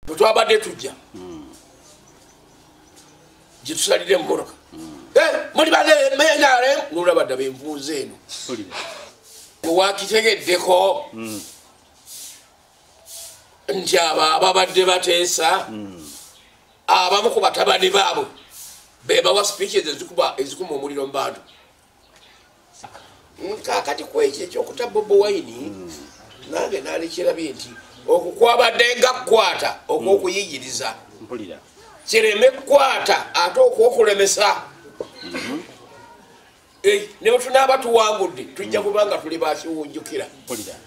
bwe twabadde tujja gye tusalira emmotoka eh, muli banemenarem nolaba ddaba envunza eno owakitegeddeko hmm. nti abo ababadde bateesa hmm. abamu ku batabani baabwe bebawa speeches ezikuma omuliro mu bantu kakati kwekyo ekyokuta bobo wine hmm. nange nalekyerabye nti okwo kwabadde nga kukwata okwokuyigiriza mpulira kireme kukwata ate okwokulemesa mhm. eh, newetunaaba tuwangudde tujja kubanga tuli bakiwunjukira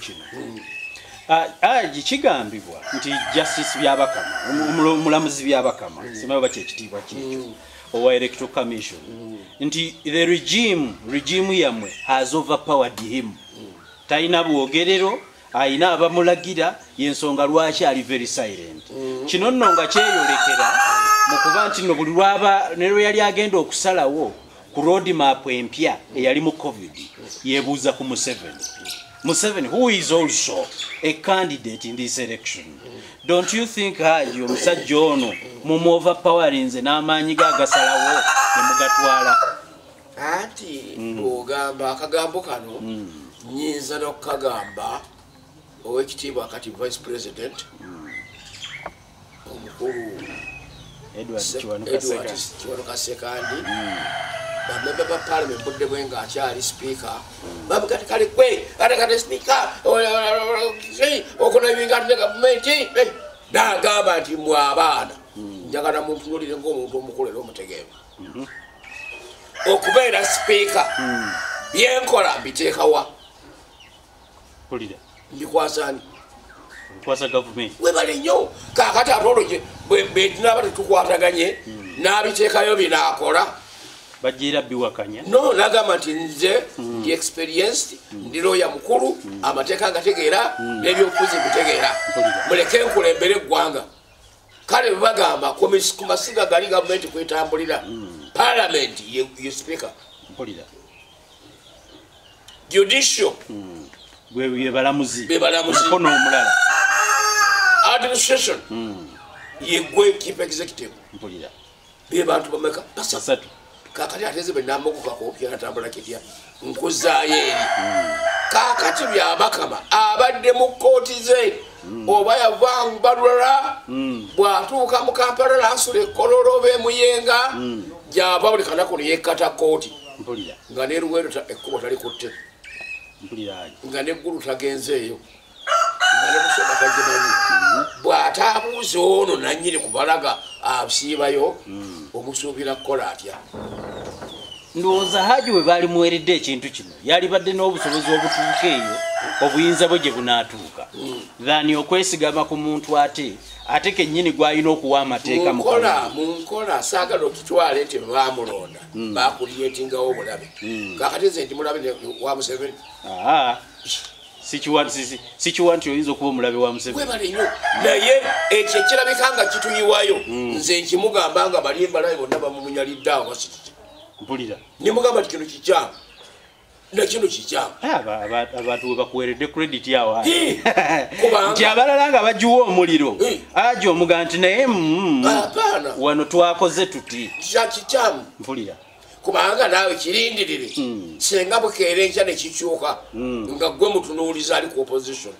kino aji kigambibwa nti justice byabakama omulamuzi byabakama simanyi oba kyekitiibwa kyekyo mm. owa electoral commission mm. nti the regime regime yamwe has overpowered him mm. talina bwogerero ayina abamulagira yensonga lwaki ali very silent kino nno nga kyeyolekera mu kuba nti no buli lwaba ne lwe yali agenda okusalawo ku road map empya eyali mu covid yebuuza ku museveni museveni who is also a candidate in this election don't you think haji omusajja ono mumuova powerinze n'amaanyi ge agasalawo nemugatwala anti mm. ogamba akagambo kano mm. nyinza nokukagamba owekitiibwa kati vice president mm. omukulu edward kiwanuka sekandi bamemba ba parliament budde bwe nga akyali sipiika babugati kale gwe ate kati sipiika okunabinga ate ne gavumenti nagamba nti mwe abaana njagala muntunulire ngaomuntu omukulu era omutegeevu okubeera sipiika byenkola mbiteekawa mpulira mbikwasa ani mbikwasa gavumenti webale nnyo kakati ate olwo betunaaba tetukwataganye hmm. n'abiteekayo binaakola bajira biwakanya no nagamba nti nze hmm. ndi experienced hmm. ndi looya mukulu amateeka agategeera n'ebyobufuzi bitegeera muleke nkulembere eggwanga kale bebagamba ku masiga gali gavumenti kwetambulira palamenti ye speaker judicial mm. bebalamuzi bebalamuzimukono omulala administration mm. yegwe chief executive mpulira bebantu bameka basatu kakati ateze benamukukakobyatambula kitya nkuzayo eri mm. kakati byabakama abadde mu kooti ze mm. oba yavanbalula mm. bwatuuka mu kampala nasula ekololo bemuyenga mm. gyava buli kanaku neyekata kooti mpulira nga ne luweero ekkubo talikutte mpulira nga neggulu tagenzeeyo nga ne musoma tagimanyi mhm. bw'ataabuuza ono nannyini kubalaga asiibayo mm. omusuubira kukola atya ndowooza haji we baali muweredde ekintu kino yalibadde n'obusobozi obutuuka eyo obuyinza bwe gye bunaatuuka mm. thani okwesigama ku muntu ate ate kennyini gw'alina okuwa amateeka mu nkola saagala okitwale nti baamulonda hmm. bakuliyetingawo obulabe hmm. kakati nze ndi mulabe wa museveni sikiwa nti oyinza okuba omulabe wa museveniwebale nyo naye ekyo ekirabika nga kituyiwayo hmm. nze nkimugamba nga bali embalabe bonna bamumunyalidde awo basikiki mpulira nimugamba ti kino kikyamu nakino kikyamu abantu webakuweredde credit awo nti abalala nga bagiwa omuliro aja omuga nti naye mm, wano twakoze tuti kikyamu mpulira kubanga naawe kirindirire hmm. singa bukeera enkya nekikyuka hmm. nga gwe mutunuuliza ali ku opposition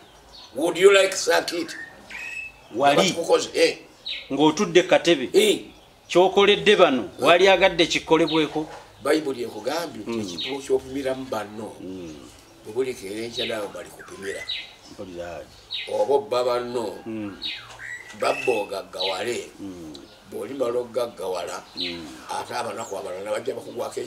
would you like sakit wali eh. ng'otudde katebe eh. kyokoledde bano wali agadde kikolebweko bayibuli ekugambye nti mm. ekituo kyopimiramu banno mm. bwebulekeera enkya naawe bali kupimira oba obba banno mm. babba ogaggawale bwolimala okugaggawala ate abanaku abalala bajja bakugwako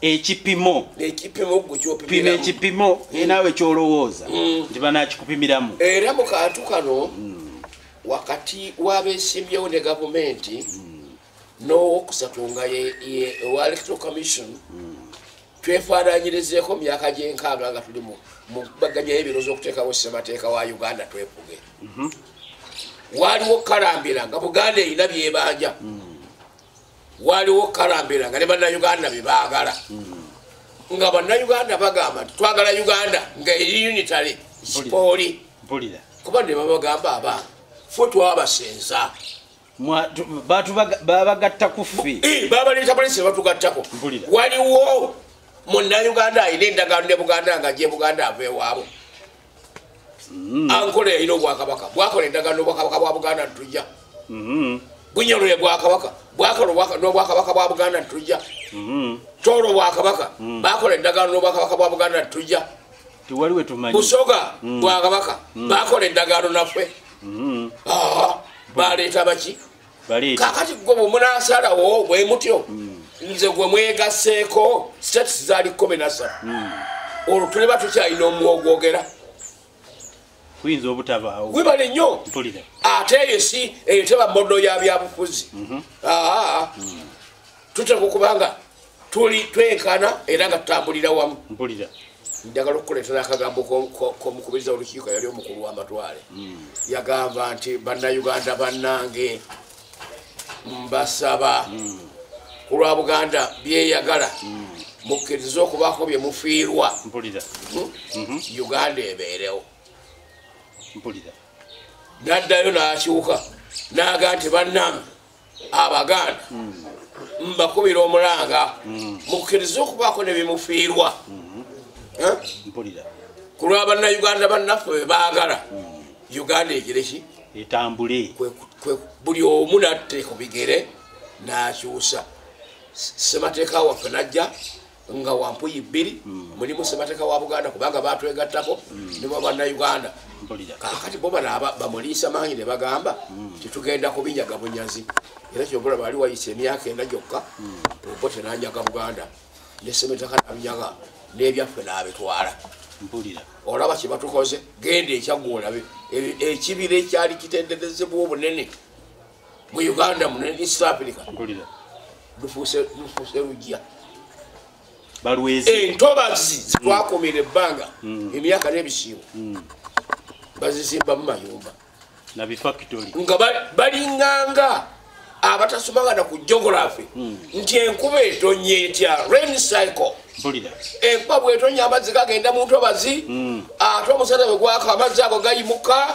ekipimo ekipimo gwe kyopima ekipimo mm. naawe kyolowooza mm. nti banakikupimiramu era mu kantu kano mm. wakati wabesimbyewo ne gavumenti mm. n'owokusatu nga owa electoral commission mm. twefaananyirizeeko myaka gyenkaaga nga tuli mubaganyayo ebiro z'okuteekawo ssemateeka wa uganda twefuge mm -hmm. waliwo kukalambira nga buganda erina byebanja mm. waliwo kalambira nga ne bannayuganda bye baagala nga bannayuganda bagamba nti twagala uganda nga eri unitary sipooli kuba ne babagamba abaana ffe twabasenza babagatta kufi eh, babaleeta polisi nebatugattako waliwo munnayuganda alina endagaano ne buganda nga gyebuganda ava ewaabwe mm-hmm. ankola yalina obwakabaka bwakola endagano nobwakabaka bwa buganda ntujja mm-hmm. bunyolole bwakabaka bwakola nobwakabaka bwa buganda ntujja mm-hmm. tolo bwakabaka mm. bakola endagano nobwakabaka bwa buganda ntujja busoga mm. bwakabaka mm. bakola endagano naffe baleeta baki kakati gwe bwemunasalawo bwe mutyo mm. nze gwe mwegaseeko status zali kumi nasatu mm. olwo tuliba tukyalina omwogwogera kuyinza obutabaawo webale nnyo ate eyo si eyo teba modo ya byabufuzi mhm. aa mm. tuteeka okubanga tuli twenkana era nga tutambulira wamu mpulira njagala okukuleetera akagambo komukubiriza olukiiko yali omukulu w'amatwale hmm. yagamba nti bannayuganda bannange mbasaba hmm. ku lwa buganda byeyagala hmm. mukkirize okubaako bye mufiirwa mhm. uganda ebeerewo naddayo n'akyuka naaga nti bannange abaganda mbakubira omulanga mukkirize okubaako ne bimufiirwa eh? ku lwa bannayuganda bannaffe be baagala uganda egireki etambule buli omu natte ku bigere n'akyusa ssemateeka waffe najja nga wampuyi bbiri mm. mulimu semateka wa buganda kubanga batwegattako mm. ne babanauganda kakati bo bana bamuliisa maanyi ne bagamba mm. titugenda kubinyaga bunyazi era kyobola baali wayisa emyaka ena gyokka obo tenanyaga buganda ne semateka nabinyaga n'ebyaffe n'abitwala mpulira olaba kyebatukoze genda ekyagwolabe e, ekibira ekyali kitenderezebwa obunene mu uganda mu east africa lufuuse lujja entobazi zitwakumira ebbanga mm. emyaka n'ebisiibo mm. bazizimbamu mayumba nga balinganga abatasomanga na ku geography mm. nti enkuba etonye etya rain cycle enkuba bwetonya amazzi gagenda mu ntobazi ate omusana bwe gwaka amazzi ago gayimuka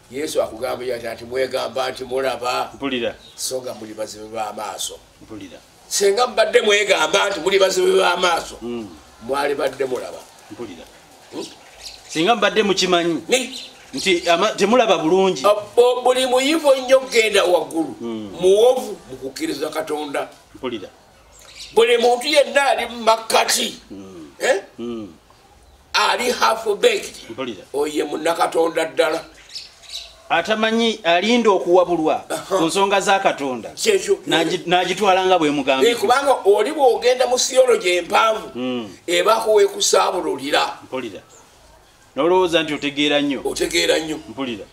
yesu akugamba yati ati mwegamba nti mulaba mpulira so nga muli bazibe b'amaaso mpulira singa mubadde mwegamba nti muli bazibe b'amaaso hmm. mwali badde mulaba mpulira hmm? singa mubadde mukimanyi nti temulaba bulungi buli muyivu ennyo kugenda waggulu hmm. muwovu mu kukkiriza katonda mpulira buli muntu yenna ali mu makkati hmm. Eh? Hmm. ali hafubeki oye munakatonda ddala atamanyi alinda okuwabulwa ku nsonga za katonda n'agitwala nga bwemugambye eh, kubanga oli bwogenda mu siyologi empanvu hmm. ebakuwekusaabululira mpulira nolowooza nti otegeera nnyo otegeera nnyo mpulira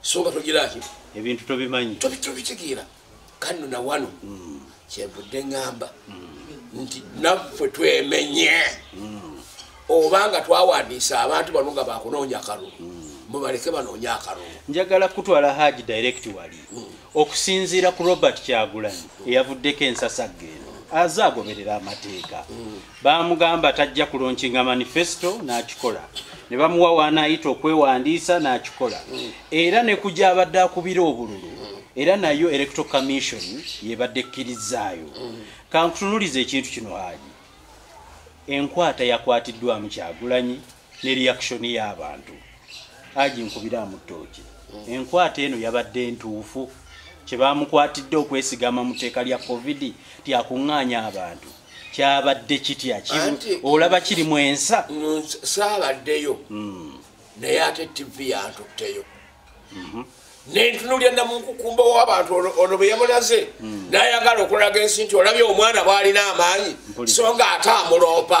songa togiraki ebintu tobimanyi tobitegeera kanno na wano mm. kyenvudde ŋŋamba mm. nti naffe twemenye mm. oba nga twawandiisa abantu bano nga bakunoonya akalulu mm. mubaleke banoonya akalulu njagala kutwala haji direct wali mm. okusinziira ku robert kyagulanyi eyavuddeko ensasagge eno aze agoberera amateeka mm. baamugamba tajja kulonkinga manifesto n'akikola ne bamuwa waanaayita okwewandiisa n'akikola era ne ku gyabadde akubira obululu era nayo electoral commission yebadde ekkirizzaayo kankutunuliza ekintu kino haali enkwata yakwatiddwamu kyagulanyi ne reaction y'abantu aji nkubiraamu ttooki enkwata eno yabadde ntuufu kye baamukwatidde okwesigama mu tteeka lya covid tyakuŋŋaanya abantu kyabadde kitya olaba kiri mu ensa saabaddeyo hmm. naye ate tivi yantutteyo mhm. nentunulya namunkukumba wabantu ono bweyamulaze hmm. nayagala okulaga ensi nti olabye omwana bwalina amaanyi so nga ate amuloopa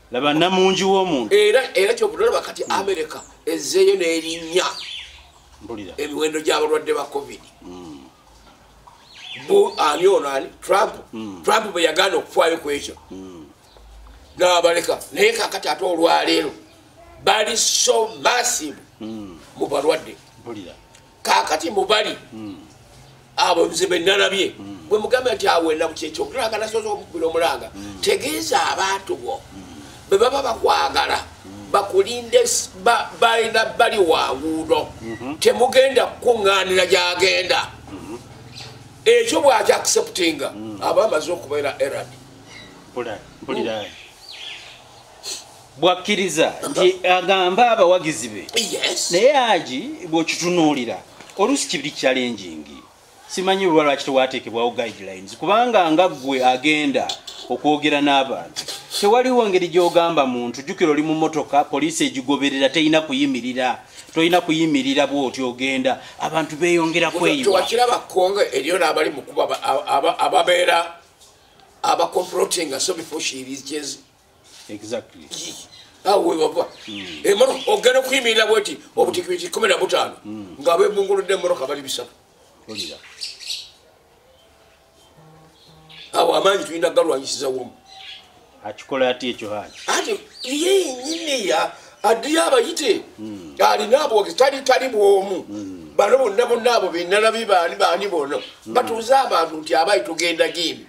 laba namungi womuntu era era kyobudolaba kati hmm. america ezeeyo nerinya mbulira emiwendo gyabalwadde ba covid hmm. bu ani ono ani trump hmm. trump bwe yagaana okufaayo ku ekyo nabaleka naye kakati ate olwaleero bali so massive mu balwadde mbulira kakati mubali mm. abo nze benalabye mm. bwe mugambe nti awo enaku kyekyo okulanga nasoza omukubira omulanga mm. tegeeza abantu bo mm. bwe baba bakwagala mm. bakulinde balina bali wanguudo mm -hmm. temugenda kukuŋŋaanira gyagenda mm -hmm. ekyo bwakyakiseputinga mm. aba amaze okubeera erad bwakkiriza nti agambe abawagizi be naye agi bw'okitunuulira oluusi kibiri kyalenjingi simanyi luba lwaki tewateekebwawo guidelines kubanga nga ggwe agenda okwogera n'abantu tewaliwo ngeri gy'ogamba muntu jjukira oli mu motoka poliisi egigoberera terina kuyimirira tolina kuyimirira bwoti ogenda abantu beeyongera kweyiwakiraba kongo eriyo n'abali mukuba ababeera abakomplotinga so before she reaches exactly awo wewava hmm. emoroka eh, ogenda okuyimirira bweti obutikibiti kumi na butaano hmm. nga abebunguludde emoroka bali bisatu awo amaanyi tulina galwanyisiza womu akikola ati ekyo hali ati ye nyini ya adiyo abayite hmm. alina abwogezi tali tali bwomu bano bonna bonna abo benalabi baani baani bono batuuze abantu nti abayi tugenda gindi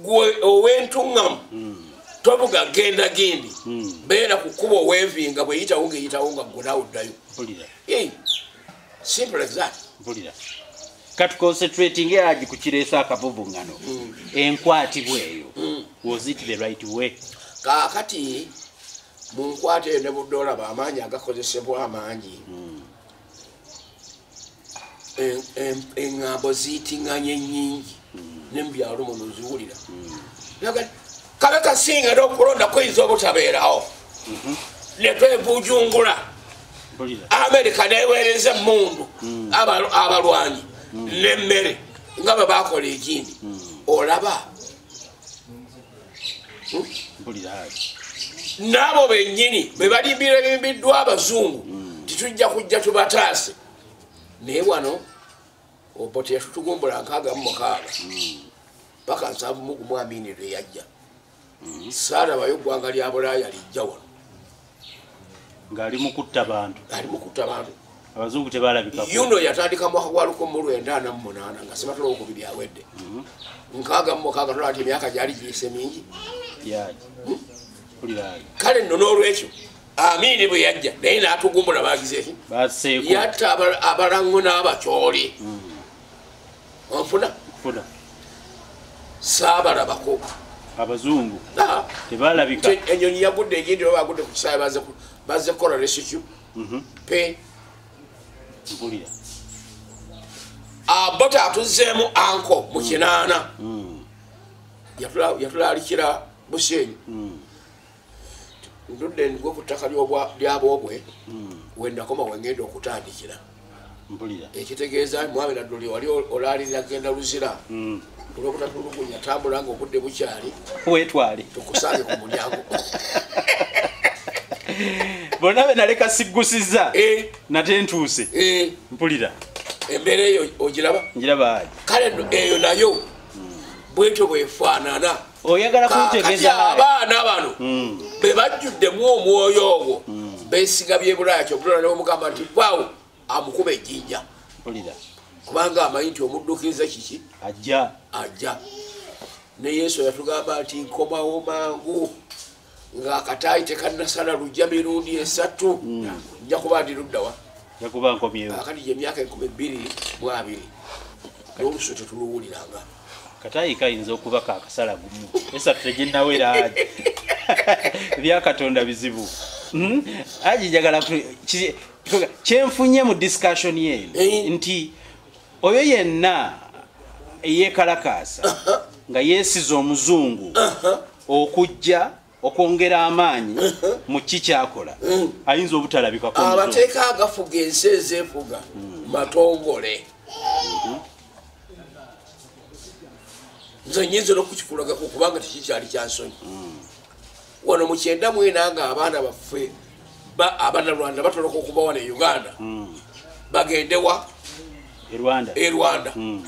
gwe owentuŋŋamu hmm. tobuga genda gindi hmm. beera ku kkuba owevinga bweyitawo ngeyitawo nga gwe nawe oddayo simple as that kati concentrating agi ku kireeso akavuvuŋŋano hmm. enkwatibwa eyo was it the right way kaakati mu nkwata eyo ne budde olaba amaanyi agakozesebwa amangi eŋŋambo ziitiŋŋanye nnyingi ne mu byalo muno ziwulira kabe kasinga era okulonda kuyinza obutabeerawo mhm. ne twevujungula amerika neweereza emmundu mm. abalwanyi mm. n'emmere nga bwe bakola ekindi mm. olaba n'abo bennyini bwe balimbira ebimbiddwa abazungu titujja kujja tubataase naye wano oboti yatutugumbula nkaaga mu mukaaga paka nsanvu mugumu amiini lwe yajja saalabayo eggwanga lya bulaaya lijja wano ng'ali mu kutta bantu ali mu kutta bantu abazungu tebalabika yuno yatandika mwaka gwa lukumu lwenda ana mu munaana nga sibatula okubiri awedde mhm. nkaaga mu mukaaga tola nti emyaka gyali giyise mingi hmm? kale nno n'olwekyo amiini bwe yajja naye n'atugumbula baagizeki yatta abalango n'abacooli hmm. onfuna funa saabalabako abazungu ah. tebalabika enyonyi yagudde egindi oba bagudde ku kisaawe baze kukola resikyu mhm. pe mpulira abota ah, atuzzeemu anko mu kinaana mm. yatulalikira busenyi mm. ndudde nigwe ku ttaka lyaboobwe hmm. wendakoma wengenda okutandikira ekitegeeza mwami nadduli wali olaalirira genda luzira hmm. olwokutatulugunya tambula nga obudde bukyali wetwale tukusange ku mulyango bona be naleka siggusiza eh. nate ntuuse eh. mpulira embeera eyo ogiraba njiraba kale eyo nayo hmm. bwetyo bwefaanana oyagala kuntegeza abaana bano hmm. be bajjuddemu omwoyo ogwo hmm. besiga byebulaya kyobulala newomugamba nti vawo amukuba ejjinja kubanga amanyi nti omuddukiriza kiki ajja ajja ne yesu yatugamba nti nkomawo mangu nga akataayi tekannasala lujja mirundi esatu mm. nja kuba ndi luddawa kati gye emyaka enkumi bbiri mu abiri n'olusu tetuluwuliranga kataayi kayinza okuba kakasala gumu esatu teginnawera aji ebyakatonda bizibu hmm? aji njagala kyenfunye mu discussion ye eh. nti oyo yenna eyekalakaasa nga yeesiza omuzungu okujja okwongera amaanyi mu ki kyakola ayinza obutalabikako amateeka agafuga ensi ezeefuga matongole nze nyinza nokukikulaga kukubanga tekikyali kyansonyi wano mukyenda mwena nga abaana baffe abanalwanda batoloka okuba wano e uganda hmm. bagendewa e rwanda hmm.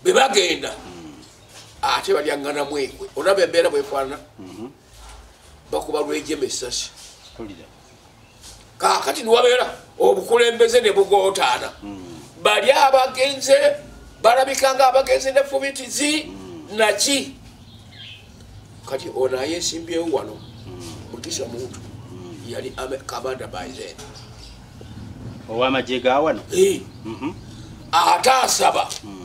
bebagenda hmm. ate balyangana mwekwe olaba embeera bwefaana bakuba lwejema esasi kakati niwabeera obukulembeze ne bugootaana bali abagenze balabika nga abagenze ne fubitizi naki kati ono ayesimbyewo wano mugisha muntu yali kabanda baize owamagye gawano mhm. ate asaba mm.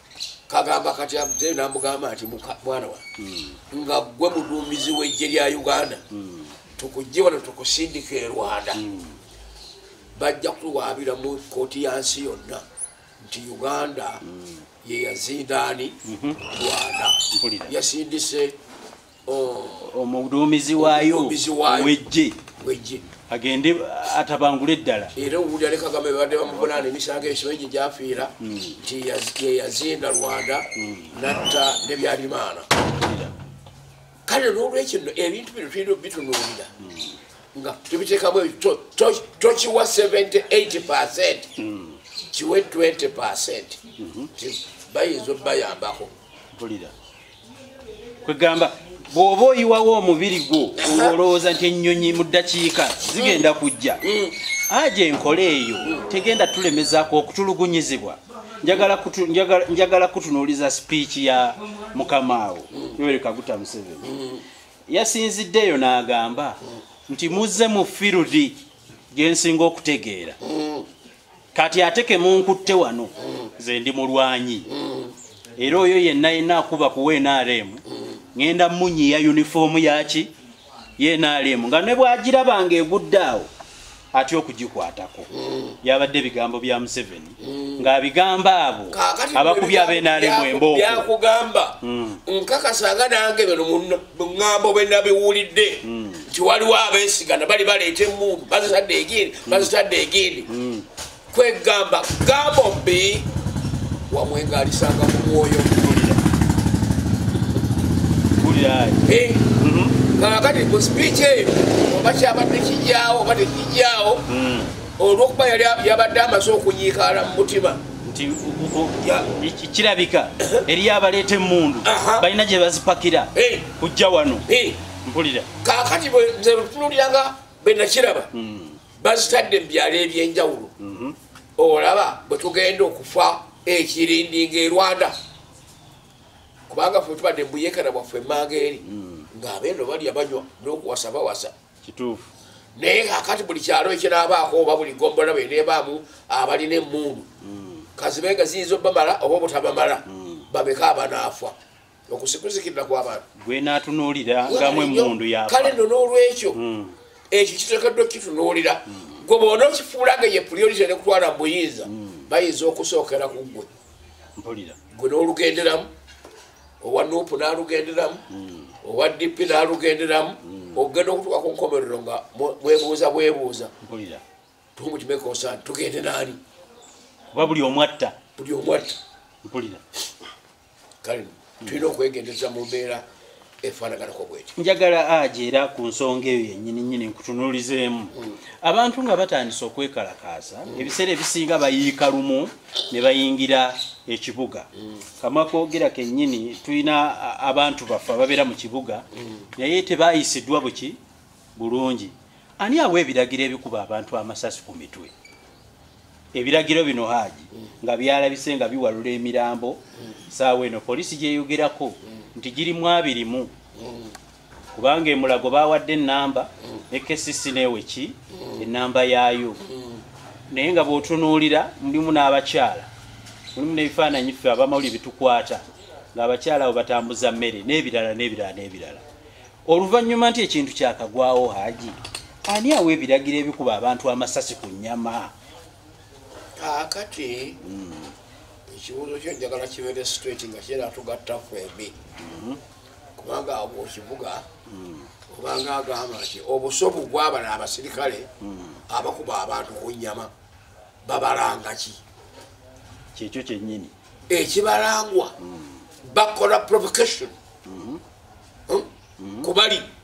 kagamba kati abdel namugamba nti mwana wa hmm. nga gwe muduumizi wejje lya uganda hmm. tukujje wano tukusindika e rwanda hmm. bajja kuwaabira mu kooti ya nsi yonna nti uganda yeyazindaani mhm. rwanda yasindise oh. omuduumizi waayo owejje agende atabangule eddala era owulira ne kagame babadde bamuvunaana emisango egyo mingi gyafiira hmm. nti yeyazinda rwanda hmm. natta nebyalimaana kale nolwekyo no ebintu bino tulina obitunuulira hmm. nga tubiteekamu ebyo tokiwa 78 percent kiwe 20 percent mhm. bayinza obayambako kwegamba bw'oba oyiwawo omubiri gwo olowooza nti ennyonyi mu ddakiika zigenda kujja aja enkola eyo tegenda tulemezaako okutulugunyizibwa njagala kutunuuliza sipiiki ya mukamaawo yoweri kaguta museveni yasinzidde eyo n'agamba nti muzze mu firudi gyensinga okutegeera kati ate kemunkutte wano nze ndi mulwanyi era oyo yenna yenna akuba ku nrm ŋenda munyiya yunifoomu yaki yenrm nga ne bwagiraba nga egudde awo atya okugikwatako byabadde ebigambo bya museveni ng'abigamba abo abakubi abenrm embooko nkakasa nga nange beno munna muŋŋambo bwe nabiwulidde hmm. nti waliwo abeesigana bali baleeta emundu bazitadde egindi hmm. bazitadde egindi hmm. kwegamba gambo mbi wamwengalisanga mu mwoyo eh, mhm. kakati ku sipiiki eyo oba kyabadde kijyawo oba tekijyawo olwokuba yali yabadde amaze okunyiikaala mu mutima nti kirabika eriyo abaleeta emmundu balina gye bazipakira kujja wano mpulira kakati bwetunuliranga benakiraba hmm. bazitadde mu byalo ebyenjawulo mhm. olaba bwe tugenda okufa ekirindinga erwanda kubanga fe tubadde mbuyekana bwaffe emanga eri hmm. ng'abeeno balya banywa n'okuwasa bawasa kituufu naye kakati buli kyalo ekiraabaako oba buli gombola beneebaamu abalina emmundu mm. kazibe nga ziyinza obamala oba obutabamala mm. babeka abanaafa okusikuzikirira kwabantu gwenatunuulira ngamu emundu ya kale no n'olwekyo mm. ekyo kitekeddwa okukitunuulira gwe bona okifuula nga ye priority nekutwala mu buyinza bayinza okusookera ku ggwe gwe n'olugenderamu owa nup nalugenderamu hmm. owa dp nalugenderamu hmm. okugenda okutuka ku nkomerero nga mwebuuza bwebuuza tumukimekosani tugende naani kuba buli omwatta buli omwatta mpulira kale tulina okwegendeza mu mbeera efaanaganako bwekyo njagala aja era ku nsonga eyo yenyini nyini nkutunulizeemu hmm. abantu nga batandise okwekalakaasa ebiseera ebisinga bayiika lumu ne bayingira ekibuga kama kogera kenyini tulina abantu baffe ababeera mu kibuga mm. naye tebayisidwa buki bulungi ani awa ebiragiro ebikuba abantu amasasi ku mitwe ebiragiro bino haaji mm. nga byalabise nga biwalula emirambo mm. saawa eno polisi gyeyogerako nti girimu abirimu kubanga emulago bawadde enamba ne kcc neweki enamba yaayo naye nga bwotunuulira mulimu n'abakyala mulimu n'ebifaananyi ffe abamawuli bitukwata ng'abakyala abo batambuza mmere n'ebirala n'ebirala n'ebirala oluvannyuma nti ekintu kyakagwawo haji ani awa ebiragiro ebikuba abantu amasasi ku nnyama kakati hmm. ekibuuzo kyo njagala kibeere straight nga kyera tugatta kwembi mm-hmm. kubanga awo mukibuga hmm. obanga agamba nti obusobu bwabala abasirikale hmm. abakuba abantu ku nyama babalanga ki kyekyo kyenyini ekibalangwa hmm. bakola provocation kubali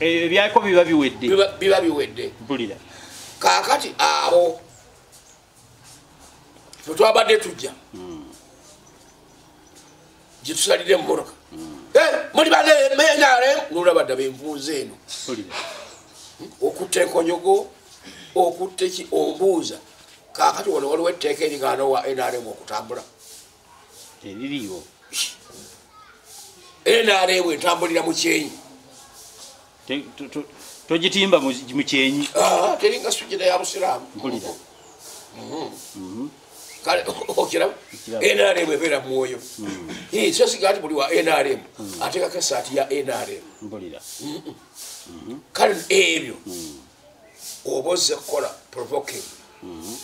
ebyako biba biwedde biba biwedde mpulira kakati abo twetwabadde tujja hmm. gyetusalire emumoroka hmm. eh, muli banemenyale nolabadda benvunza eno hmm? okutta enkonyogo okutta ki ombuuza kakati wano waliwo etteeka eringana wa nrm okutambula teririwo nrm entambulira mu kyenyi togitimba mu kyenyi ah, teringa sujida ya busiraamu mpulira mhm. Mhm. kale okiraba nrm ebeera mumwoyo mhm. so siga nti buli wa nrm ateekako esaati ya nrm mpulira kale ebyo oba ozze kukola provoking mm-hmm.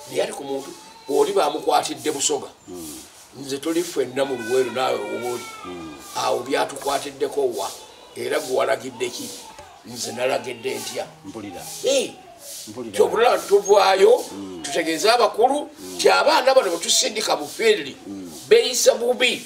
naye ati ku muntu oli bamukwatidde busoga mm. nze tuli fwenna mu luweero naawe wooli mm. awo byatukwatiddeko wa era gwe walagidde ki nze nalagidde ntya mpulira kyokulaba tuvaayo mm. tutegeeze abakulu ti abaana bano betusindika mu fiiriri beyisa bubi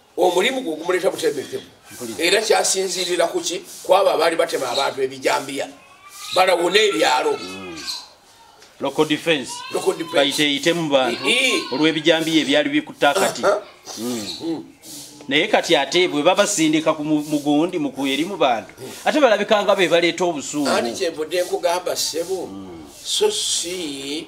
omulimu gwe gumuleeta butemekevu era kyasinziirira ku ki kwabo abaali batema abantu ebijambiya balawuna ebyalo lokodefansbayiteeyitemu bantu olw'ebijambiya ebyali bikutta kati hmm. Hmm. naye kati ate bwe babasindika ku mugundi mukueri mu bantu hmm. ate balabikanga be baleeta obusuumu ani kyenvudde nkugamba ssebo so si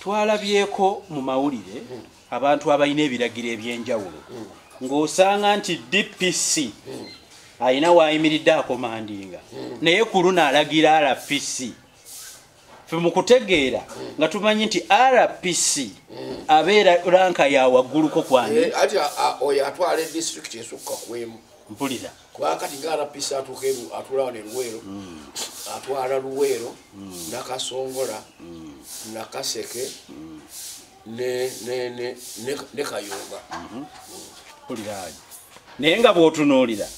twalabyeko mu mawulire abantu abalina ebiragiro ebyenjawulo ng'osanga nti dpc alina waayimiridde akomandinga naye ku luno alagira rpc fe mu kutegeera nga tumanyi nti rpc abeera ranka ya wagguluko kwani eh, oyo atwala edistrict esukka kwemu mpulira kuba kati nga rpc atuuka atula wano eluweero mm. atwala luweero mm. nakasongola mm. nakaseke ne kayunga mm-hmm. kuliraanyi naye nga bwotunuulira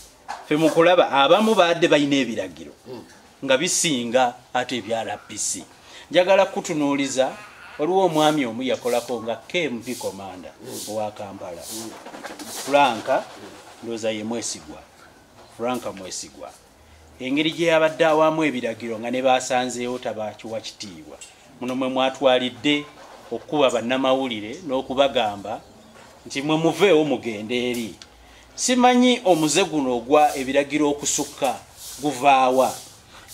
fe mukulaba abamu baadde balina ebiragiro nga bisinga ate ebya rbc njagala kutunuuliza waliwo omwami omu yakolako nga kmv komanda owa kampala franka ndooza ye mwesigwa franka mwesigwa engeri gye yabadde awamu ebiragiro nga ne baasanzeewo tabakiwa kitiibwa muno mwe mwatwalidde okukuba bannamawulire n'okubagamba nti mwe muveewo mugende eri Simanyi omuze guno ogwa ebiragiro okusukka guvaawa.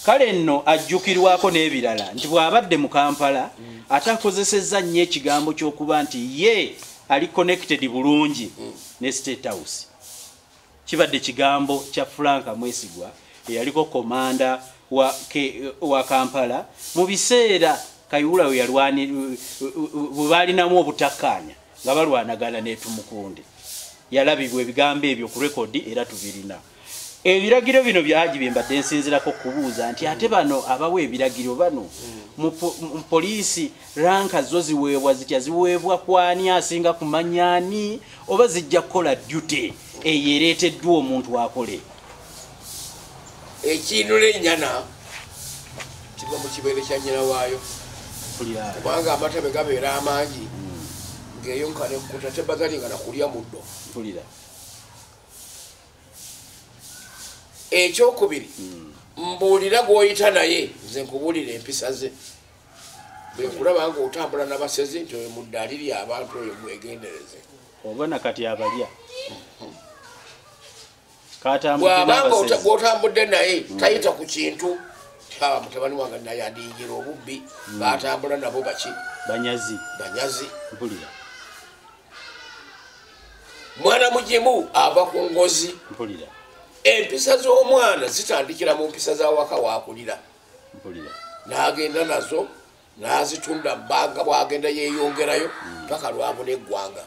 Kale nno ajjukirwako n'ebirala nti bw'abadde mu Kampala ate akozesezza nnyo ekigambo ky'okuba nti ye ali connected bulungi ne State House. Kibadde kigambo kya Frank Mwesigwa eyaliko komanda wa, ke, wa Kampala mu biseera Kayihura we yalwani bwe baalinamu obutakkaanya. nga balwanagana netumukunde yalabibwa ebigambo ebyo ku rekodi era tubirina ebiragiro bino byagi byembadde nsinzirako kubuuza nti ate bano abawa ebiragiro bano mu poliisi ranka zo ziweebwa zitya ziweebwa kwani asinga kumanyani oba zijja kukola dute eyo ereeteddwa omuntu akole ekiinula ennyana kiva mu kibeere kya nnyina waayo kubanga amata bwe gabeera amangi hmm. ng'eyo nkanekuta tebagalinga na kulya muddo ekyokubiri hmm. mbuulira gw'oyita naye nze nkubuulira empisa ze bwe nkulaba nga otambula nabasezi nti oyo muddaali lyabantu oyo mwegendereze oba nakati abalya bwabanga gwotambudde naye mm. tayita ku kintu aba mutabani wange naye adiyingira obubbi mm. batambula nabo baki banyazi banyazi mpulira mwana mugimu ava ku ngozi mpulira empisa z'omwana zitandikira mu mpisa zawaka wakulira n'agenda nazo n'azitunda bbanga bwagenda yeeyongerayo hmm. paka lwabuna eggwanga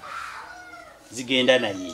zigenda naye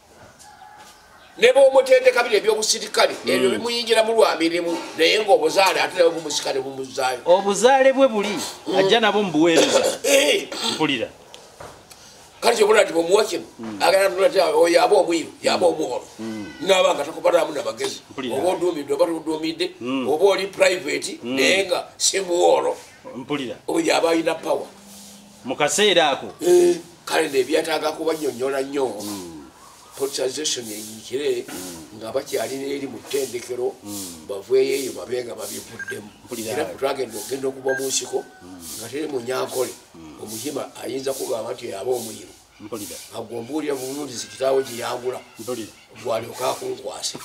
ne bwomutendeka bino ebyobusirikale hmm. ebyo bimuyingira mu lwa mirimu naye ngaobuzaale ate nabo bumusika ne bumuzaayo obuzaale bwe buli hmm. ajja nabo mubuweereza eh. mpulira kale kyobona ti bwomuwa kino hmm. aganaoyo aba omwiru yaba omuholo naba nga takubalamu namagezi oba oduumidde oba tuduumidde oba oli private naye nga simuwolo mpulira oyo aba alina power mu kaseera ako eh, kale nebyetaaga kubanyonyola nnyo hmm. politisation eyikire hmm. nga bakyalina eri mu ttendekero hmm. baveeyo eyo babe nga babivuddemu era twagenda okugenda okuva mu nsiko nga teri munyankole omuyima ayinza kugamba nti yaba omuyiro mpulira agwo mbuulira buwundizi kitaawo gye yagula mpulira gwalyoka akunkwasa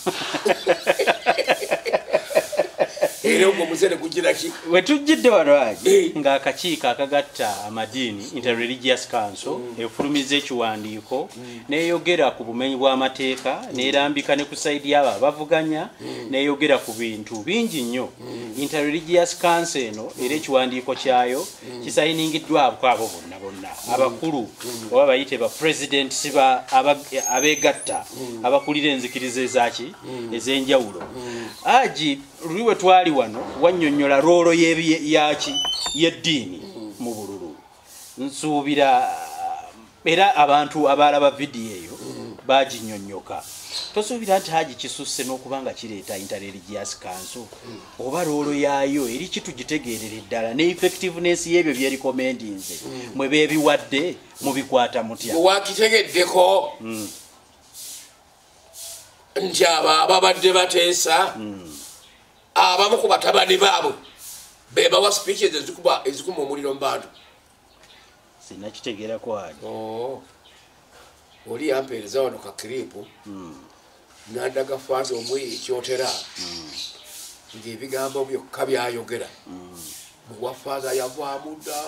era ogwo muzere gugiraki we tujjidde walwagi eh. ng'akakiiko akagatta amadiini mm. interreligious council mm. efulumiza ekiwandiiko mm. neyogera ku bumenyi bw'amateeka nerambika ne ku saidi yaabo abavuganya neyogera ku bintu bingi nnyo interreligious council eno era ekiwandiiko kyayo mm. kisayiningiddwako abo bonna bonna mm. abakulu mm. oba bayite ba president siba abegatta abakulira enzikiriza ezaki ez'enjawulo agi luli we twali wano wannyonnyola roolo yaki y'eddiini mu bululu nsuubira era abantu abaalaba vidiyo eyo baginyonyoka tosuubira nti haji kisusse n'okuba nga kireeta interreligious kanso oba loolo yaayo eri kitugitegeerere ddala ne effectiveness y'ebyo byerikomendinze mwe beebiwadde mubikwata mutya wakitegeddeko hmm. nti abo ababadde bateesa hmm. abamu ku batabani baabwe bebawa speeches ezikuma omuliro mu bantu sinakitegeera kwani oh. oli yampeereza wano ka kiripu hmm. nandaga faaza omweyo ekyotera hmm. ngaebigambo byokka byayogera hmm. muwa faaza yavaamuda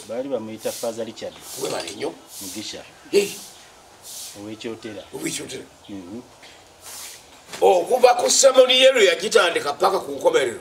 baali bamuyita faaza richard webale nyo mugisha owekyotera owekyotera mhm. okuva ku semoniye lwe yagitandika paka ku nkomerero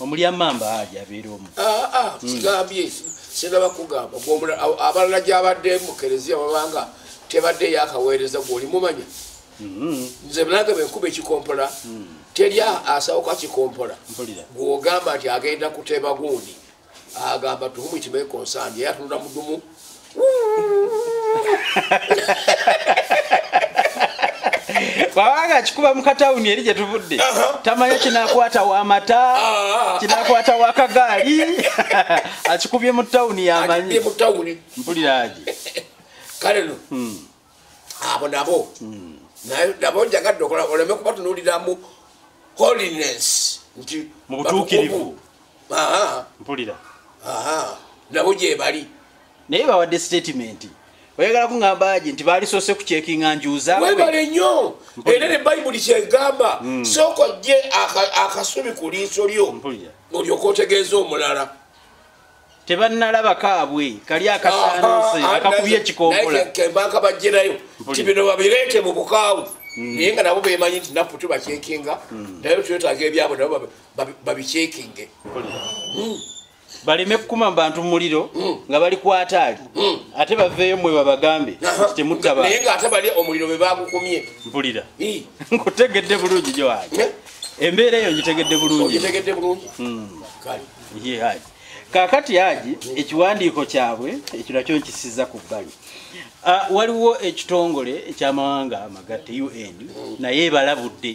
omulya mamba aja abeera omu ah, ah, hmm. kigambye sinaba kugamba abalala gyabadde mukereziya babanga tebadde yakaweereza gwolimumanya hmm. nze nange benkuba ekikompola hmm. teri asawuka kikompola gwogamba nti agenda kuteba gundi agamba to whom it may concern yeye atunula mudumu wawanga kikuba mukatawuni eri gyetuvudde tamanya kinakwata wamata ah. kinakwata wakagaali akikubye mu tawuni yamanyi mpuliraje kale no hmm. abo nabo hmm. nabo njagadde okola oleme kubatunuliramu holiness nti mubutuukirivu mpulira nabo gyebali naye bawadde statement oyagala kuŋambaji nti baalisoose ku kyekinga njuuzawebale nnyo era ne bayibuli kyegamba hmm. sooka ojje akasubi ku liiso lyo olyoka otegeeza omulala tebannalaba kaabwe kali akasaanse ah, ah, akakubye ekikombolaembaaka bajjerayo nti bino babireete mu bukaawu hmm. naye nga nabo bemanyi nti napu tubakyekinga hmm. naye twetaaga ebyabo nabo babikyekinge hmm. baleme kukuma mu bantu muliro nga bali kwataali ate baveeyo mwe babagambe nti temuttabaye nga ate bali omuliro be bagukumye mpulira nkutegedde bulungi gyowaali eh? embeera eyo ngitegedde bulungi kakati haji ekiwandiiko kyabwe ekyo nakyo nkisiza ku bbali ah, waliwo ekitongole ekyamawanga amagatte un naye ebalabudde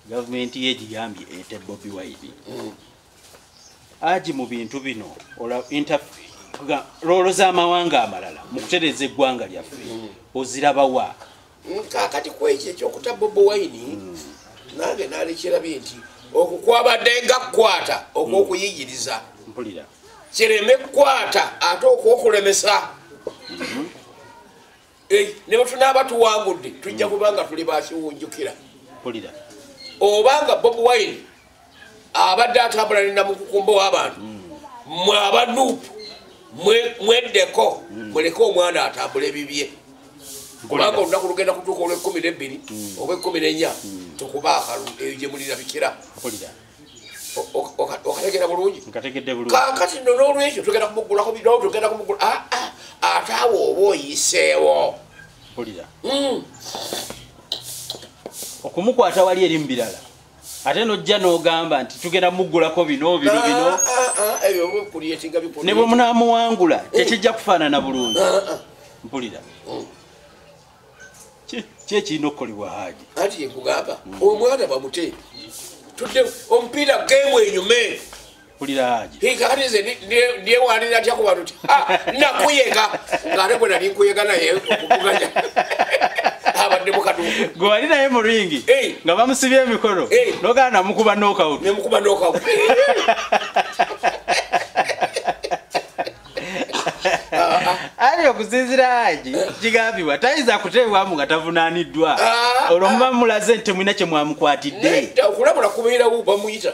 gavumenti ye egiyambye ete bobi wide haji mu bintu bino loolo z'amawanga amalala mu kutereeza eggwanga lyaffe ozirabawa kakati kwekyo ekyokuta bobo wine hmm. nange nalekyerabye nti okwo kwabadde nga kukwata okwokuyigiriza hmm. kireme kukwata ate okwokulemesa hmm. eh, ne bwetunaaba tuwangudde tujja kubanga tuli bakiwunjukira oba nga bobo wine abadde atambula ne namukukumba w'abantu mwe abanuupu mweddeko muleke omwana atambula ebibye kubanga olunaku lugenda kutuuka olw'ekkumi n'ebbiri mm. oba ekkumi n'ennya mm. tukuba akalu eyo gye mulirabikira okategera bulungi kakati no n'olwekyo tugenda kumuggulako bidoo tugenda kumuggula aa ah, ah, ate awo oba oyiseewo mm. okumukwata wali eri mu birala ate nojja nogamba nti tugenda mugulako bino bino ah, bino ah, ah, ne bwe munamuwangula eh. tekijja kufaanana bulungi mpulira mm. kyekirina okukolebwa haji anti yekugamba omwana bamute tudde omupiira gemu enyume newalira atya ku bantu ti nakuyega ngaate gwe nali nkuyega naye okuvuganya abadde mukadu gwe wali naye mu ringi nga bamusibye emikono nogaa namukuba nokaut nemukuba nokaut ali okusinzira haji kigambibwa tayinza kuteebwamu nga tavunaaniddwa ah, olwo muba ah. mulaze nti temulina kye mwamukwatidde okulabula kubeerawo bamuyita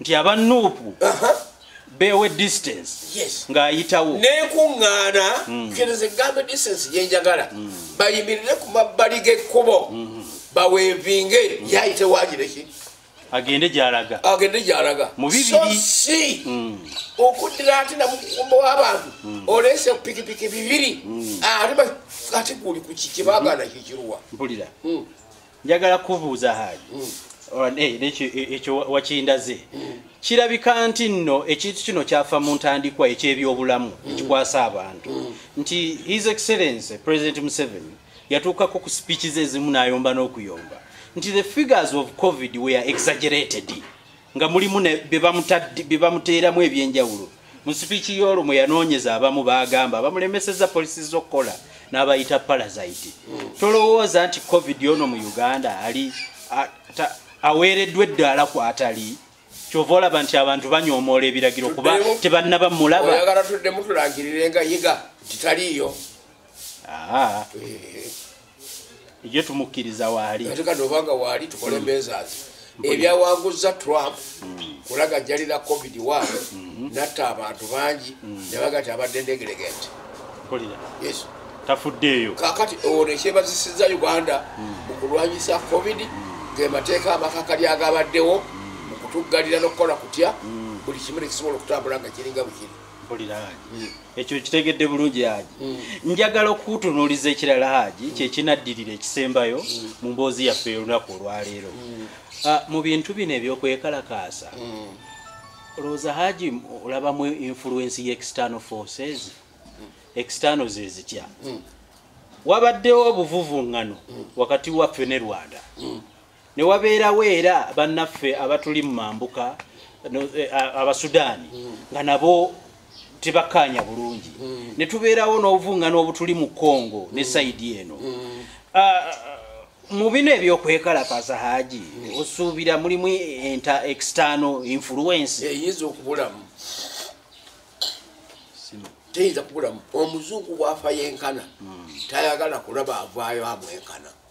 nti aba nuupu bewe distance ng'ayitawo nenkuŋŋaana mm. kereza egambe distance gyenjagala mm. bayimirire ku mabbali g'ekkubo mm-hmm. bawevinge mm. yayite wagireki agende gyalaga agende gyalaga mubibirisi okuddira ati namukumba w'abantu oleese pikipiki bibiri ati guli ku kiki bagana kikiruwa mpulira njagala kubuuza haaji hmm. eh, ekyo wakindaze hmm. kirabika nti nno ekintu kino kyafa mu ntandikwa ekyebyobulamu hmm. ekikwasa abantu nti his excellence president museveni yatuukako ku speeches ezimu n'ayomba n'okuyomba nti the figures of covid were exaggerated nga mulimu bye bamuteeramu ebyenjawulo mu sipiiki y'olwo mwe yanoonyeza abamu baagamba bamulemeseza polisi z'okukola n'abayita palasite tolowooza nti covid ono mu uganda ali aweereddwa eddaala ku atali kyova olaba nti abantu banyoomoola ebiragiro kuba tebannaba mulaba oyagala tuddemu tulangirire nga yiga titaliiyo ejo tumukkiriza waali atekati obanga waali tukole mm. embeezaazi ebyawanguzza trump mm. kulaga jalira covid wa mm-hmm. natta abantu bangi mm. nebaga ti abadde ndegeregenti yes tafuddeeyo kakati owo nekyebazisiza uganda mukulwanyisa covid ngemateeka amakakali agabaddewo mukutuggalira nokukola kutya buli kimu nekisobola okutambula nga kiringa bukiri ekyo kitegedde bulungi haji mm. njagala okukutunuuliza ekirala haji mm. kyekinaddirira ekisembayo mm. mu mboozi yaffe olunaku olwaleero ah, mu bintu bino ebyokwekalakaasa olowooza haji olabamu influensi ye external forces external zezitya wabaddewo obuvuvuŋŋano wakati waffe ne rwanda ne wabeerawo era bannaffe abatuli mu mambuka eh, abasudaani hmm. nga nabo tebakkaanya bulungi hmm. ne tubeerawo n'obuvungano obutuli mu congo hmm. ne sayidi eno ah, mu bino ebyokwekalakaza haji osuubira mulimu enta external influence eyinza okubulamu teyinza kubulamu omuzungu bwafa yenkana tayagala kulaba avaayo amwenkana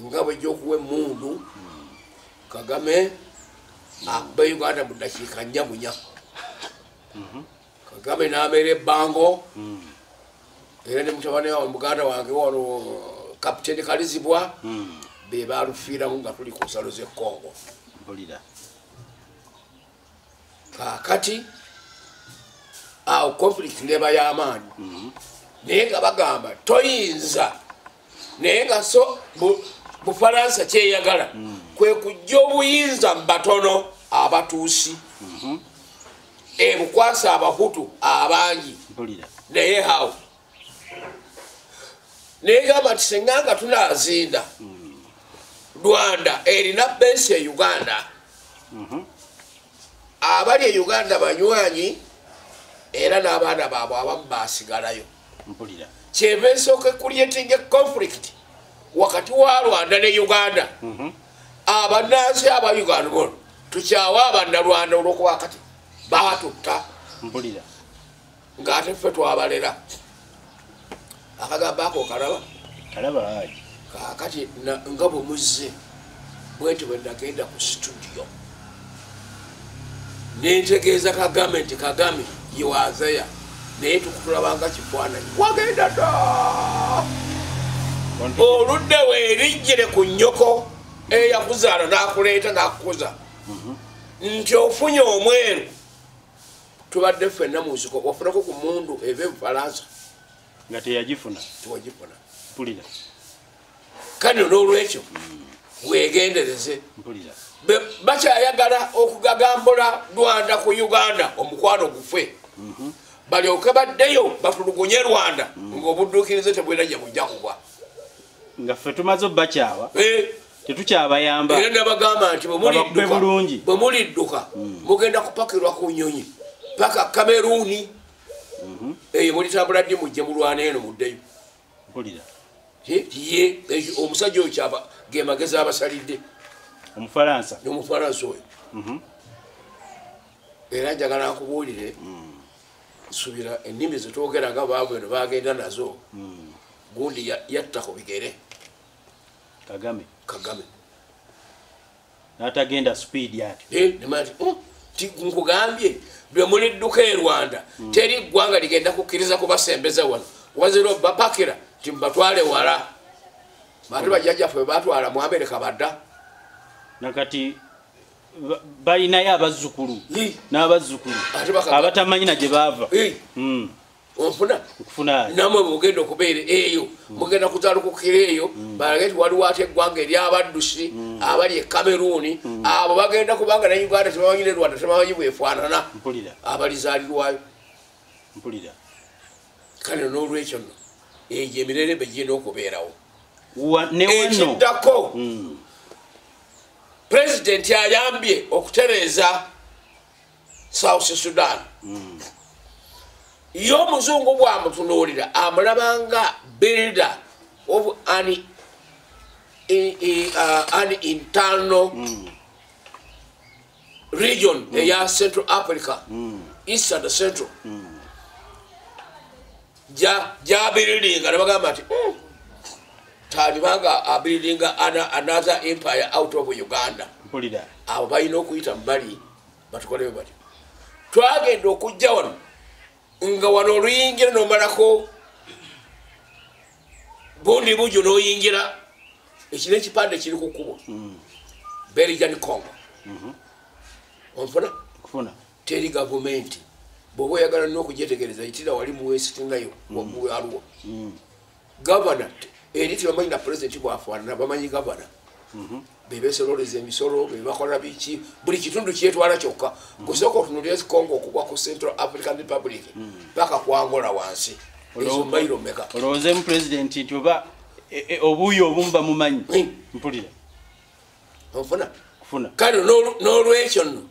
nga bwejja okuwa emundu kagame akube ah, uganda mu dakiika nnya munya mhm. kagame nameera ebbango mm. era ne mutabani wa muganda wange wano kapiteni kalizibwa mm. be balufiiramu nga tuli ku nsalo z'ekongo kakati awo conflict neba yamaanyi mhm. naye nga bagamba toyinza naye nga so bufaransa kyeyagala mhm. kwe kujja obuyinza mubatono abatuusi mhm. ebukwasa abahutu abangi naye hawo negamba nti senga nga tunazinda rwanda erina bensi e uganda mhm. abali e uganda banywanyi era n'abaana baabwe abamu basigalayo kyeva ensooka ecreating a conflict wakati wa rwanda ne uganda mhm. abanansi aba uganda bono tukyawa abannalwanda olwokuba kati batutta ngaate ffe twabalera akagamba ako kalaba kalaba aji kakati nga bwemuzze bwenti bwenagenda ku situdiyo nentegeeza kagame nti kagame yewazeya naye tukutulabanga kifaananyi wagenda da oludde werijjire ku nyoko eyakuzaala nakuleeta nakukuza mhm. nti ofunye omweru tubadde ffenna mu nsiko wafunako ku mundu eva ebufalansa nga teyagifuna tewagifuna mpulira kano n'olwekyo wegendereze mpulira bakyayagala okugagambula rwanda ku uganda omukwano gufe mhm. balyoke baddeyo batulugunye rwanda mhm. ngaobudduukirize tebwirajja bujja kuba nga ffe tumaze obakyawa eh. tetukyabayamba era nabagamba nti bwemulidduka bwe mulidduka hmm. mugenda kupakirwa ku nyonyi paka kameruni mhm. eyo mulitambula ddi mujje mulwana eno muddeyo ye omusajja oyo kyava gemagezi abasalidde omufalansa omufalansa oyo mhm. era njagala nkubuulire hmm. nsubira ennimi zetwogera nga baabweno bagenda nazo hmm. gundi yatta ku bigere kagame kagame natagenda speed yati eh, oh, nkugambye lwe muli dduka e rwanda hmm. teri ggwanga ligenda kukkiriza kubasembeza wano wazira obapakira nti mubatwale wala bati hmm. bajjajjaffe batwala mu amerika badda nakati balinayo abazzukulu n'abazzukulu abatamanyi na gye baava hmm. onfuna namwe mugenda okubeera eyo mm. mugenda kuzalukukira eyo mm. balage ti waliwo ate eggwanga eryabaddusi mm. abali e kameruuni abo bagenda kubanga ne uganda tebamanyi ne rwanda tebamanyi bwefaanana abalizaalirwayo kale n'olwekyo no egyo emirere begirina okubeerawo ekiddako pulezidenti ayambye okutereeza south sudan mm. ye omuzungu bwamutunuulira amulabanga builder of an, e, e, uh, an internal mm. region mm. eya central africa mm. east and central mm. jabiridinga nebagamba nti hmm, talibanga abiridinga another empire out of uganda abo balina okuyita mubali batukolewe batyo twagenda okujja wano nga wano oluyingira nomalako bundi bujo noyingira ekina ekipande kiri ku kkubo hmm. berijan congo mhm. onfuna teri gavumenti bwoba oyagala nokujetegereza itira wali muwesitinayo wamuwe hmm. aliwo hmm. gavana eri tebamanyi na pulezidenti bwafaanana bamanyi gavana mhm. bebesololeza emisolo bebakola biki buli kitundu kyetwala kyokka mhm. gusooka otunulira ezikongo okugwa ku central african republic mhm. paka kwangola wansi ezo mairo meka olowooza mu pulezidenti nti oba e, e, obuuyi obumu bamumanyi mpulira onfuna kufuna kale n'olwekyo nno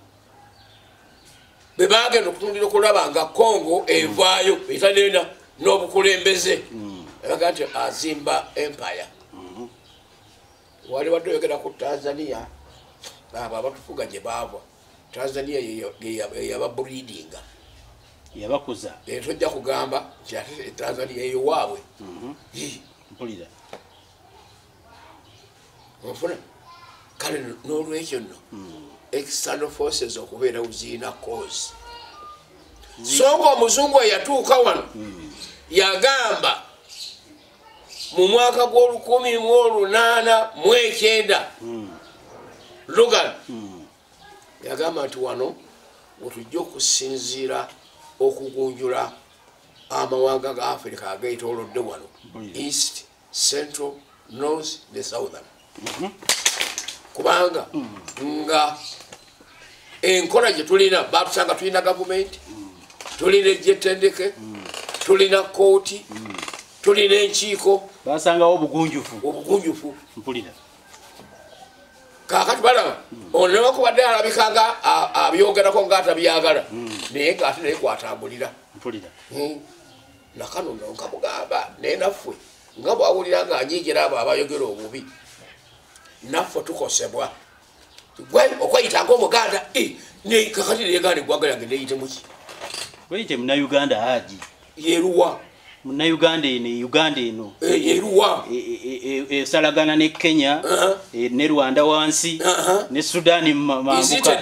bwe bagenda okutundira okulaba nga kongo evaayo etanena n'obukulembeze abaga nti azimba empire wali wadde oyogera ku tanzania abo abatufuga gye baava tanzania yeyaba breedinga yabakuza naye tojja kugamba nti ate tanzania eyowaabwe mhm. mpulira ofuna kale n'olwekyo nno hmm. external forces okubeera uziina cause so nga omuzungu eyatuuka wano hmm. yagamba mu mwaka gw'olukumi mu olunaana mu ekyenda hmm. lugan hmm. yagamba nti wano wetujja okusinziira okugunjula amawanga ga afirika ageetolodde wano east central north ne southern mhm. kubanga mm. nga enkola gye tulina batusanga tulina gavumenti mm. tulina egyetendeke mm. tulina kooti tulina enkiiko basangawo obugunjufu obugunjufu mpulira kakati balaba ono newakubadde alabika nga abyogerako ngaatabyagala naye ngaate naye kwatambulira mpulira hmm. nakano no nkamugamba naye naffe nga bwawulira nga anyigira abo abayogera obubi naffe tukosebwa gwe okweyita ngaomuganda kakati neganda egwaga yange neyitemuki weyite munauganda haji yeruwa munauganda eno e uganda eno eh, yeruwa esalagana e, e, ne kenya uh-huh. eh, ne rwanda wansi uh-huh. ne sudani mambuka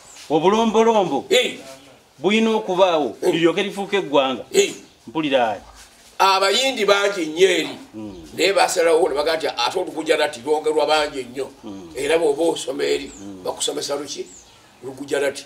obulombolombo bulina okubaawo liryoke lifuuka eggwanga mpulira abayindi bangi nnyo eri hmm. naye basalawo nebaga nti ate olugujarati lwongerwa bangi nnyo hmm. era bwoba osoma eri hmm. bakusomesa luki lugujarati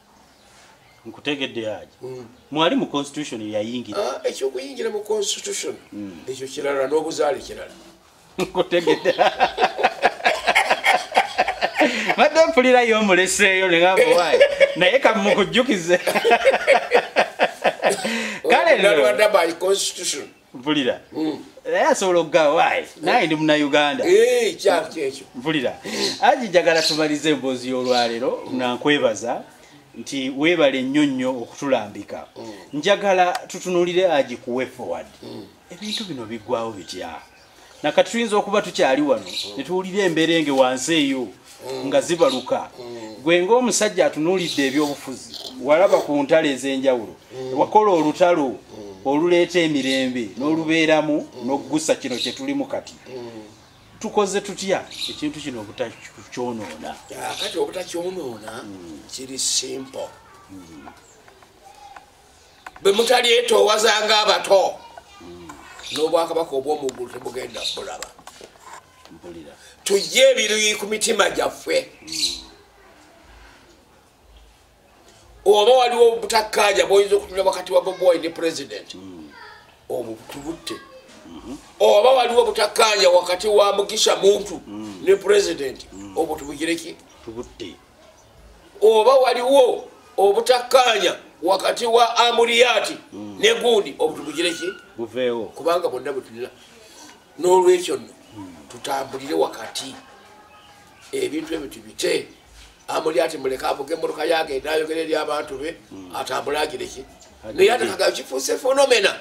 nkutegedde haji mm. mwali mu constitution yeyayingira ah, ekyokuyingira mu constitution mm. ekyo kirala n'obuzaale kirala nkutegedde badde mpulirayo omuleseeyo negambuwayi naye kamukujjukize kale mpulira mm. naye asobola okugawaayi naye ndi munauganda eh, kyakyo mpulira aji njagala tumalize emboozi y'olwaleero nga nkwebaza nti weebale nnyo nnyo okutulambika mm. njagala tutunulire aji kuwe forward mm. ebintu bino biggwawo bitya nakati tuyinza okuba tukyali wano netuwulira embeera enge wansi eyo nga zibaluka gwe ngaomusajja atunuulidde ebyobufuzi walaba ku ntalo ez'enjawulo wakola olutalo oluleeta emirembe n'olubeeramu n'okugusa kino kye tulimu kati tukoze tutya ekintu kino obutakyonoona ah, kati obutakyonoona kiri simple bwe mutalyetoowazanga abato n'obwakabaka obw'omuggulu tebugenda bulaba tujje ebiruyi ku mitima gyaffe oba waliwo obutakkaanya bwoyinza okutula wakati wa boboy ne pulezidenti hmm. obwo tubutte mhm. oba waliwo obutakkaanya wakati wa mugisha muntu hmm. ne pulezidenti hmm. obwo tubugireki tubutte oba waliwo obutakkaanya wakati wa amuriyaati hmm. ne gundi obutubugire ki buveewo kubanga bonna bwetulina n'olwekyo nno hmm. tutambulire wakati ebintu ebyo tubite amuriyaati muleka avuga emmotoka yagenda ayogera eri abantu be hmm. atambule agire ki naye atakaga kifuuse fenomena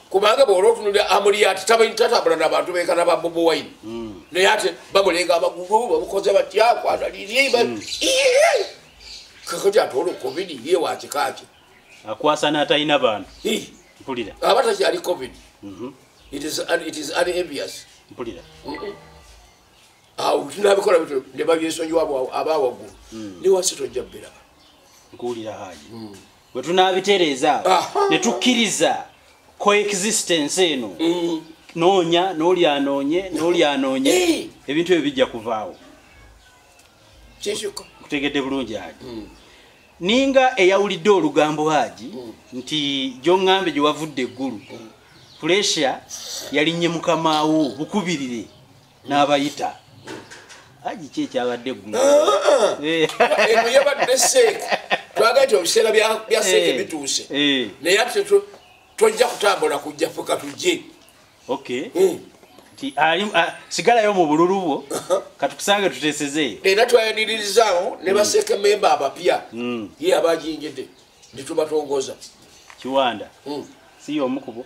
kubanga bwola otunulira amuliyati tatambula nabantu bekana ba bobo wine hmm. naye ate bamulenga abagugu bamukoze batya kwanalirye hmm. kakati ate olwo covid ye wakikaki akwasa natalina bantu mpulira aba takyali covid mhm. it is unenvious mpulira awo nabikola bityo nebabyesonyiwa abawaggulu hmm. niwasi tojja bbiraba nkuwulira haji bwe tunaabitereeza awo ne tukkiriza coexistence eno mm. noonya n'oli anoonye n'oli anoonye eh. ebintu ebyo bijja kuvaawo kutegedde bulungi haji mm. ninga eyawulidde olugambo haji mm. nti gyoŋŋambe gye wavudde eggulu puresha yalinnye mukamaawo bukubirire n'abayita aji ki ekyabadde eggulu ah, ah. eh. eno yabadde seeka twagala ti obiseera bya seeka eh. bituuse eh. naye ate tojja kutambula kujja fuka tujje okay hmm. ti ali sigalayo mu bululu bwo uh-huh. katukusange tutesezeeyo era twayaniririzaawo ne hmm. baseeka memba abapya hmm. ye abajingidde netubatongoza kiwanda siyo omukubo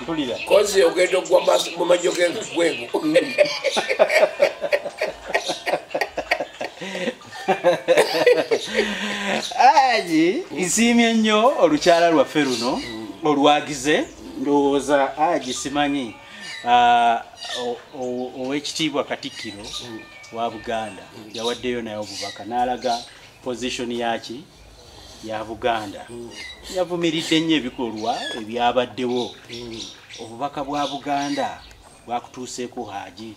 mpulira kozi ogenda okugwa mu majjo gengwegu ayi nsiimye nnyo olukyala lwaffe luno olwagize ndowooza aji simanyi ah, owekitiibwa katikkiro wa buganda yawaddeyo naye obubaka n'alaga pozishoni yaki ya buganda yavumiridde nnyo ebikolwa ebyabaddewo obubaka bwa buganda bwakutuuseeko haji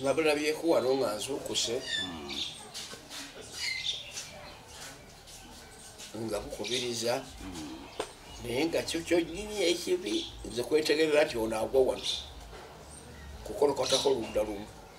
nabulabyeko wano nga nzuukuse nga bukubiriza naye nga kyo kyonyini ekibi nze kwetegerera nti onaagwa wano kukolokotako ludda lumu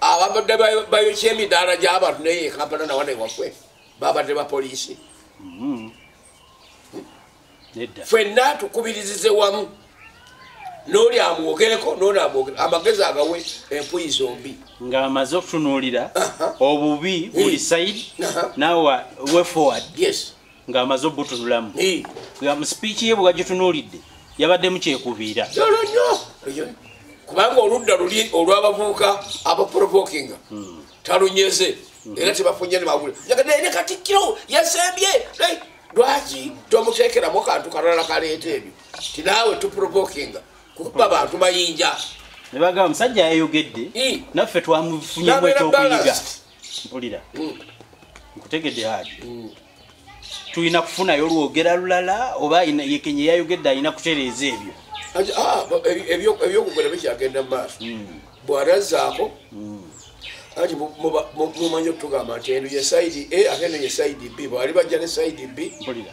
ababadde bayokya emidaala gy'abantu naye ekampala nawana ewaffe babadde bapoliisi mm-hmm. fenna tukubirizize wamu noli amwogereko noli amwogere amagezi agawe empuyi zombi ng'amaze okutunuulira obubi buli saidi nawa wefoward ng'amaze obutunulamu mu sipiiki ye bwewagitunuulidde yabaddemu kyekubiira yolo nyo kubanga oludda luli olw'abavubuka abaprovokinga hmm. talunyeze hmm. era tebafunye nemawule yagadde ne katikkiro yasembye lwaki tomuteekeramu kantu kalala kaleeta ebyo ti naawe tuprovokinga kukuba bantu mayinja nebagamba musajja yayogedde naffe twamufunyemu ekyokuyiga mpulira mm. nkutegedde haji mm. tulina kufunayo olwogera lulala oba yekenye yayogedde alina kutereeza ebyo ah, ebyokugera bikyagenda mumaaso mm. bwarazaako ati mumanyi okutugamba nti eno ye saidi a ate eno ye saidi b bwali bajja ne saidi b mpulira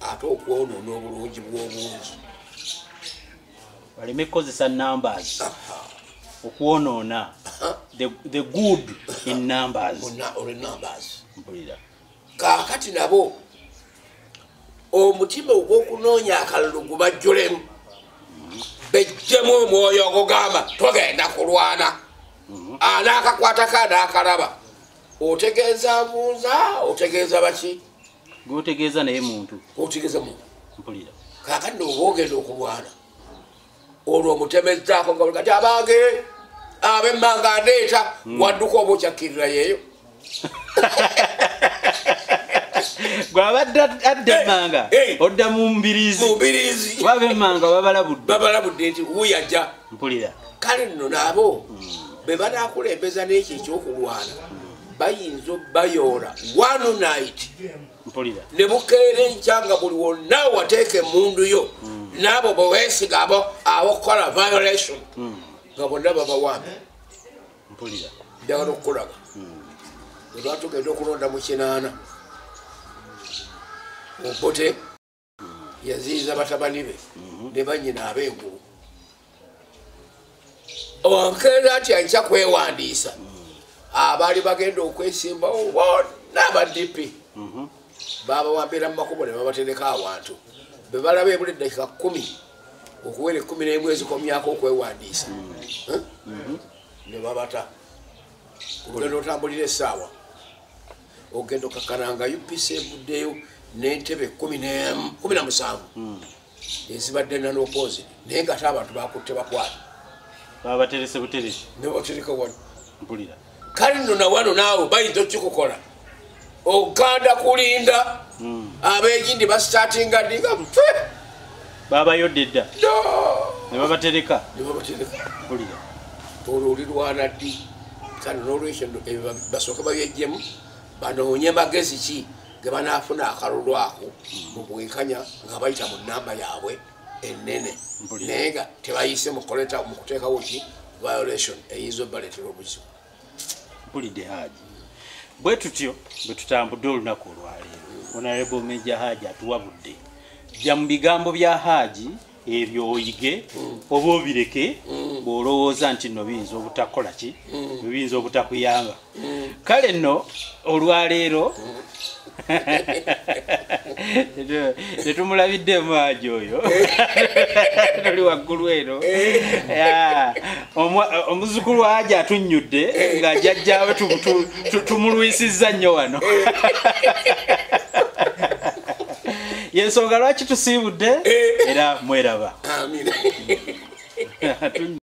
ate okwonoona obulungi bw'obungi baleme kukozesa numbers okwonoona the good in numbers mpulira kaakati nabo omutima ogw'okunoonya akalulu gubajjulemu bejjemu omwoyo ogugamba togenda kulwana mhm. anaakakwatako anaakalaba otegeeza mbuuza otegeeza baki gwotegeeza naye muntu otegeeza muntu mpulira kakadde oba ogenda okulwana olwo omutemezzaako nga kati abange abemmanga ndeeta hmm. wadduka oba okyakkirira yeeyo gwabadde adda emmanga odda mu mbiriziwaba emmanga babalabuddebabalabudde nti wuyajja mpulira kale nno naabo hmm. be banakulembeza n'ekyo ekyokulwana bayinza obayoola one night ne bukeera enkya nga buli wonna wateeka emundu yo hmm. naabo bwewesiga abo abokukola violation hmm. nga bonna babawambe njagala okukulaba hmm. ebatugenda okulonda mu kinaana obote yaziyiza batabani be mhm. ne banyina ab'engulu omukeeza nti aija kwewandiisa abaali bagenda okwesimbawo bonna aba dp mhm. babawambira mu makubo ne babatereka awantu be balaba ebula eddakika kumi okuwera ekumi n'emu ezikomyako okwewandiisa mhm. ne babata kugenda otambulira essaawa ogenda okakana nga upc evuddeyo nentebe kumi na musanvu hmm. ezibadde nanokozi naye nga ate abantu bakutte bakwata babaterese buteresi nebatereka wano mpulira kale no nawano naawe bayinza okikukola oganda kulinda hmm. abegindi basitatinga dinga mfe babayodde dda nebabatereka nebabatereka kulira olwo olirwana ddi kano nolwekyo basooka babyejjemu banoonye magezi ki gebanafuna akalulu ako mubwenkanya nga bayita mu namba yaabwe enene naye nga tebayise mukuteekawo ki violation eyinza obaleetera obuzibu mpulidde haaji bwe tutyo bwe tutambudde olunaku olwaleero onarebo meja haaji atuwa budde jja mu bigambo bya haaji ebyo oyige oba obireke bw'olowooza nti nno biyinza obutakola ki biyinza obutakuyamba kale nno olwaleero tetumulabiddemu aji oyo tuli waggulu eno eh. omuzukulu aji atunnyudde nga jajjawe tumulwisizza nnyo wano yensonga lwaki tusiibudde eh. era mweraba